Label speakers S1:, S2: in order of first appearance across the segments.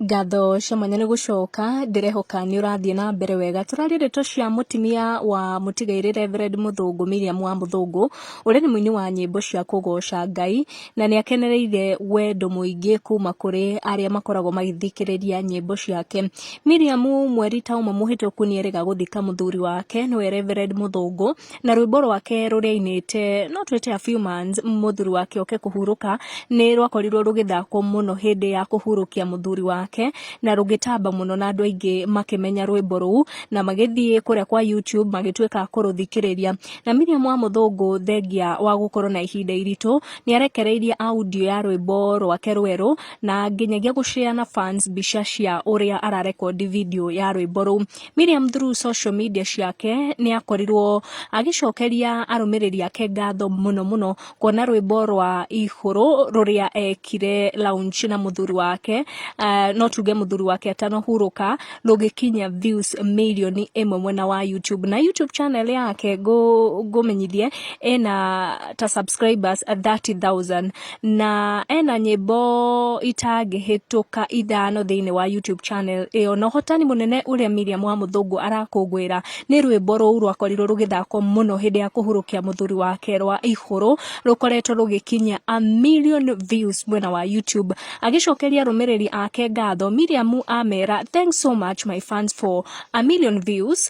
S1: Ngatho cia mwanya nĩ gũcoka, ndĩrehoka nĩ ũrathiĩ na mbere wega. Tũraria ndeto cia mũtumia wa mũtigairĩ Reverend Mũthũngũ Miriam wa Mũthũngũ, ũrĩa nĩ mũini wa nyĩmbo cia kũgoca Ngai, na nĩ akenereire wendo mũingĩ kuma kũrĩ arĩa makoragwo magĩthikĩrĩria nyĩmbo ciake. Miriam mweri ta ũmwe mũhĩtũku nĩ erĩga gũthika mũthuri wake nĩwe Reverend Mũthũngũ, na rwĩmbo rwake rũrĩa ainĩte no twĩte a few months mũthuri wake oke kũhurũka nĩ rwakorirwo rũgĩthakwo mũno hĩndĩ ya kũhurũkia mũthuri wake na rũgĩtamba mũno na andũ aingĩ makĩmenya rwĩmbo rũu na magĩthiĩ kũrĩa kwa YouTube magĩtuĩka a kũrũthikĩrĩria na Miriam wa mũthũngũ thengia wa gũkorwo na ihinda iritũ nĩ arekereirie audio ya rwĩmbo rwake rwerũ na nginyagia gũcea na fans mbica cia ũrĩa ararekondi video ya rwĩmbo rũu Miriam through social media ciake nĩ akorirwo agĩcokeria arũmĩrĩri ake ngatho mũno mũno kuona rwĩmbo rwa ihũrũ rũrĩa ekire launch na mũthuri wake uh, no tuge mũthuri wake atanahurũka rũgĩkinya views milioni ĩmwe mwena wa YouTube na YouTube channel yake ngũmenyithie ĩna ta subscribers 30,000 Na ena nyĩmbo itangĩhĩtũka ithano thĩinĩ wa YouTube channel ĩyo. Na ũhotani mũnene ũrĩa Miriam wa Mũthũngũ arakũngũĩra nĩ rwĩmbo rũu rwakorirwo rũgĩthakwo mũno hĩndĩ ya kũhurũkia mũthuri wake rwa Ihũrũ, rũkoretwo rũgĩkinyia a million views mwena wa YouTube. Agĩcokeria arũmĩrĩri ake ngatho, Miriam amera, Thanks so much my fans for a million views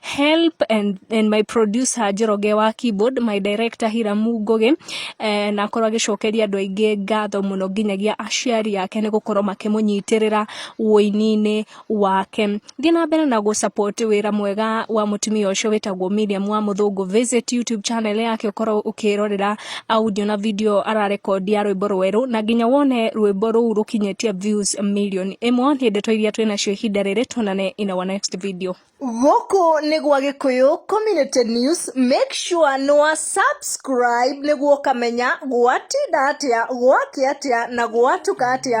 S1: help and, and my producer njoroge wa keyboard my director hiramu ngugi eh, na akorwo agĩcokeria andũ aingĩ ngatho mũno nginyagia aciari ake nĩ gũkorwo makĩmũnyitĩrĩra ũini-inĩ wake thiĩ na mbere na gũsupport wĩra mwega wa mũtumia ũcio wĩtagwo Miriam wa mũthũngũ visit youtube channel yake ũkorwo ũkĩrorera audio na video ararekondi ya rwĩmbo rwerũ na nginya wone rwĩmbo rũu rũkinyĩtie views million ĩmwe nĩ ndeto iria twĩnacio ihinda rĩrĩ tuonane in our next video Gũkũ nĩ
S2: gwa Gĩkũyũ Community News, make sure nĩ wa subscribe nĩguo ũkamenya gwatinda atĩa, gwakĩa atĩa na gwatuka atĩa.